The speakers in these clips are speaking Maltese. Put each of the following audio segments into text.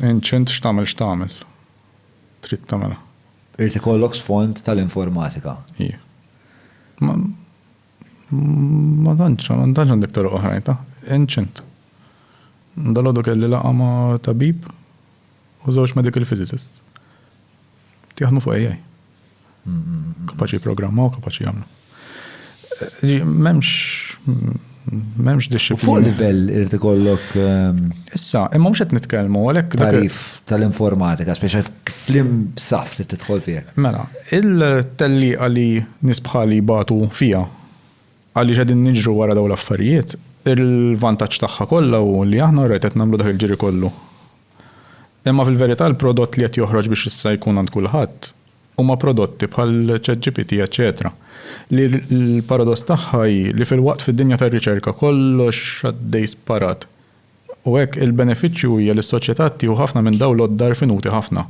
Ancient x'tagħmel x'tagħmel. Trid tagħmilha. Irid ikollok sfond tal-informatika. Ija. Ma ma tantx ma tantx għandek toroq oħrajn ta'. Ancient. Dalgħodu kelli laqgħa ma' tabib u żewġ medical physicists. Jaħdmu fuq AI. Kapaċi jipprogrammaw, kapaċi jagħmlu. M'hemmx m'hemmx disciplina. Fuq livell irid ikollok. Ehm, Issa, imma mhux qed nitkellmu għalhekk. Tarif tal-informatika, speċa flim saf li tidħol fih. Mela, il-telli għali nisbħali batu fija għaliex qegħdin niġru wara dawn l-affarijiet, il-vantaġġ tagħha kollha u li aħna rajt qed nagħmlu dak il-ġiri kollu Imma fil-verità l-prodott li qed joħroġ biex issa jkun għand kulħadd huma prodotti bħal ChatGPT eċċetera li l-paradoss tagħha hi li filwaqt fid-dinja tar-riċerka kollox għaddej sparat u hekk il-benefiċċju hija li s-soċjetà ttieħu ħafna minn dawn l-għodda rfinuti ħafna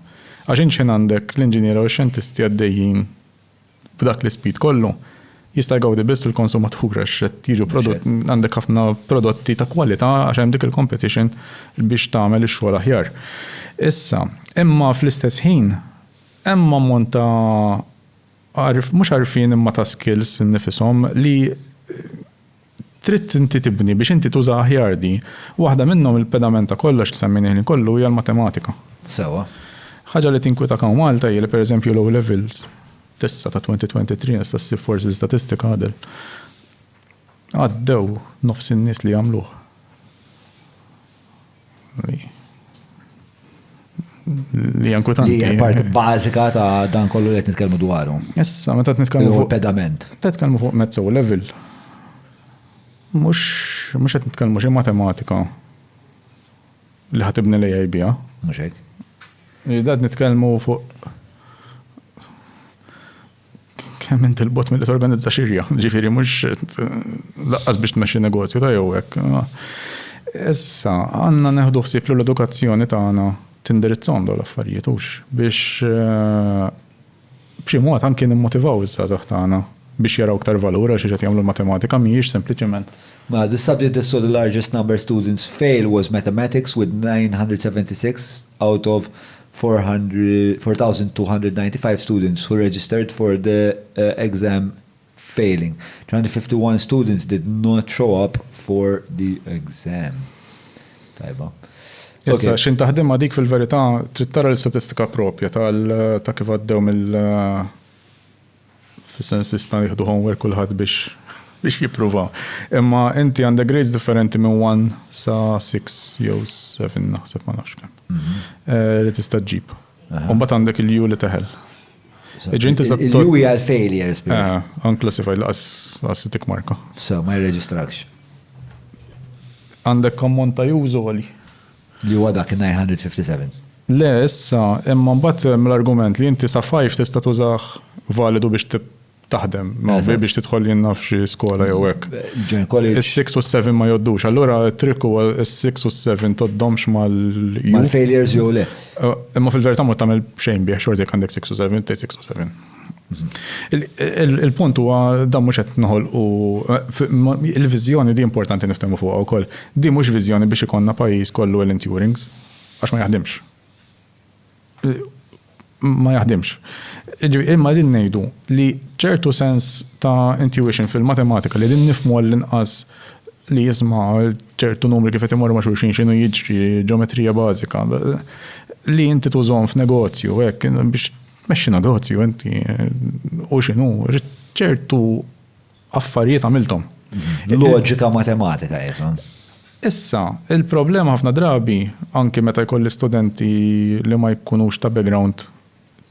għax int x'ħin għandek l-inġiniera u x-xjentisti għaddejjin f'dak l-ispit kollu, jista' jgawdi biss il-konsumatur għax qed jiġu prodott, għandek ħafna prodotti ta' kwalità għax hemm dik il-competition biex tagħmel ix-xogħol aħjar. Issa, imma fl-istess ħin hemm ammont ta' għarf, mhux għarfien imma ta' skills innifishom li Trid inti tibni biex inti tuża aħjar di. Waħda minnhom il-pedament ta' kollox li semmejnih ħin kollu hija l-matematika. Sewwa. Ħaġa li tinkwetak hawn Malta hija li per eżempju l-O Levels t'issa ta' 2023 tista' ssib forsi l-istatistika Adel. Għaddew nofs in-nies li jagħmluh. li jankwetanti. Li part bażika ta' dan kollu li qed nitkellmu dwaru. Issa, meta qed nitkellmu fuq pedament. Qed nitkellmu fuq mezzo level. Mhux mhux qed nitkellmu xi matematika li ħatibni li jajbija. Mhux hekk. Qed nitkellmu fuq Kemm int il-bot mill-li torganizza xirja, ġifiri mux laqqas biex tmexxi negozju ta' jew hekk. Issa, għanna neħdu ħsieb li l-edukazzjoni tagħna tindirizzhom dawn l-affarijiet hux biex eh, b'xi mod anke nimmotivaw iż-żgħażagħ tagħna biex jaraw ktar valura xi qed jagħmlu l-matematika mhijiex sempliċement. Ma the subject that saw the largest number students fail was mathematics with 976 out of 4,295 students who registered for the exam failing. 351 students did not show up for the exam. Tajba. Issa, xin taħdim dik fil-verità trid tara l-istatistika propja ta' kif għaddew mill- Fis-sens jistgħu jieħdu homework kulħadd biex biex jippruvaw. Imma inti għandek grades differenti minn 1 sa 6 jew 7 naħseb ma nafx kemm. Mhm. Eh, li tista' ġġib. Mbagħad għandek il-ju li teħel. Il-ju hija l-failures. Eh, unclassified laqas tik marka. So, ma jirreġistrakx. Għandek kommon ta' jużu għali. Li huwa dak in-957. Le, issa, imma mbagħad hemm l-argument li inti sa five tista' tużah validu biex taħdem, biex tidħol jien naf xi skola jew hekk. Join college. Is-six u s-seven ma jgħoddux. Allura t-trikk huwa s-six u s-seven tgħoddhomx mal. Mal-failures jew le. Imma fil-verità ma tagħmel xejn bih xorta jekk għandek six u seven, tgħid six u seven. Il-punt huwa dan mhux qed noħolqu il-viżjoni di importanti niftehmu fuqha wkoll. Di mhux viżjoni biex ikollna pajjiż kollu Alan Turings għax ma jaħdimx. Ma jaħdimx. Imma din ngħidu li ċertu sens ta' intuition fil-matematika li din nifhmu għall-inqas li jisma' ċertu numri kif qed imorru ma' xulxin x'inhu jiġri ġeometrija bażika li inti tużhom f'negozju hekk biex Tmexxi negozju inti u x'inhu ċertu affarijiet għamilthom. Mhm. Loġika matematika jizom. Issa, il-problema ħafna drabi, anki meta jkolli studenti li ma jkunux ta' background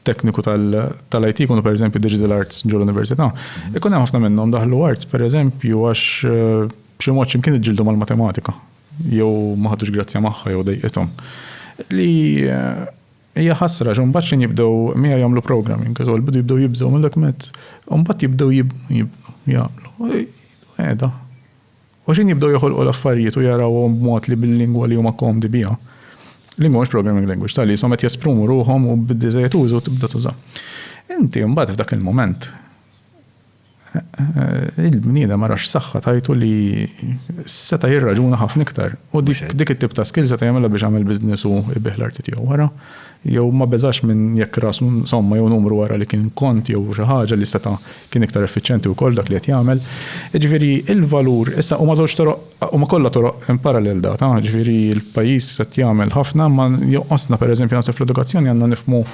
tekniku tal-IT, kunu per eżempju digital arts ġol università mhm. ikun hemm ħafna minnhom daħlu arts per eżempju għax eh, b'xi mod x'imkien iġġildu mal-matematika jew ma ħadux grazzja magħha jew dejqithom. Li eh, Hija ħasra għax imbagħad x'ħin jibdew miegħi jagħmlu programming, għax bidu jibdew jibżgħu minn dak mezz. Imbagħad jibdew jibnu, jibnu, jagħmlu. Qiegħda. U x'ħin jibdew joħolqu l-affarijiet u jarawhom b'mod li bil-lingwa li huma komdi biha. Lingwa mhux programming language, tal jisom qed jesprumu ruħhom u biddi żejjed użu tibda tuża. Inti mbagħad f'dak il-mument il-bniedem ara x'saħħa tajtu li seta' jirraġuna ħafna iktar. U dik it-tip ta' skill seta' jagħmilha biex jagħmel business u jbih l-arti tiegħu wara. Jew ma beżax minn jekk ras somma jew numru wara li kien kont jew xi ħaġa li seta' kien iktar effiċjenti wkoll dak li qed jagħmel. Jiġifieri il-valur issa huma żewġ toroq huma kollha toroq in parallel data, jiġifieri l-pajjiż qed jagħmel ħafna imma jonqosna pereżempju naħseb fl-edukazzjoni għandna nifhmu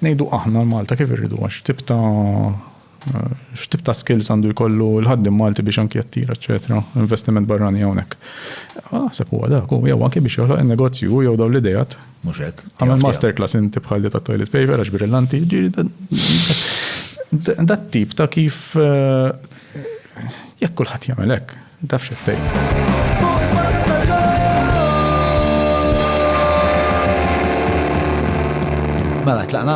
ngħidu aħna Malta kif irridu għax tip ta' X'tip ta' skills għandu jkollu l-ħaddim Malti biex anki jattira, eċetera, investiment barrani hawnhekk. Naħseb huwa dak u jew anki biex joħloq in-negozju jew dawn l-idejat. Mhux hekk. Għamel masterclass inti bħal li tat-toilet paper għax brillanti. Dat-tip ta' kif jekk kulħadd jagħmel hekk. Taf x'qed tgħid. Mela, tlaqna?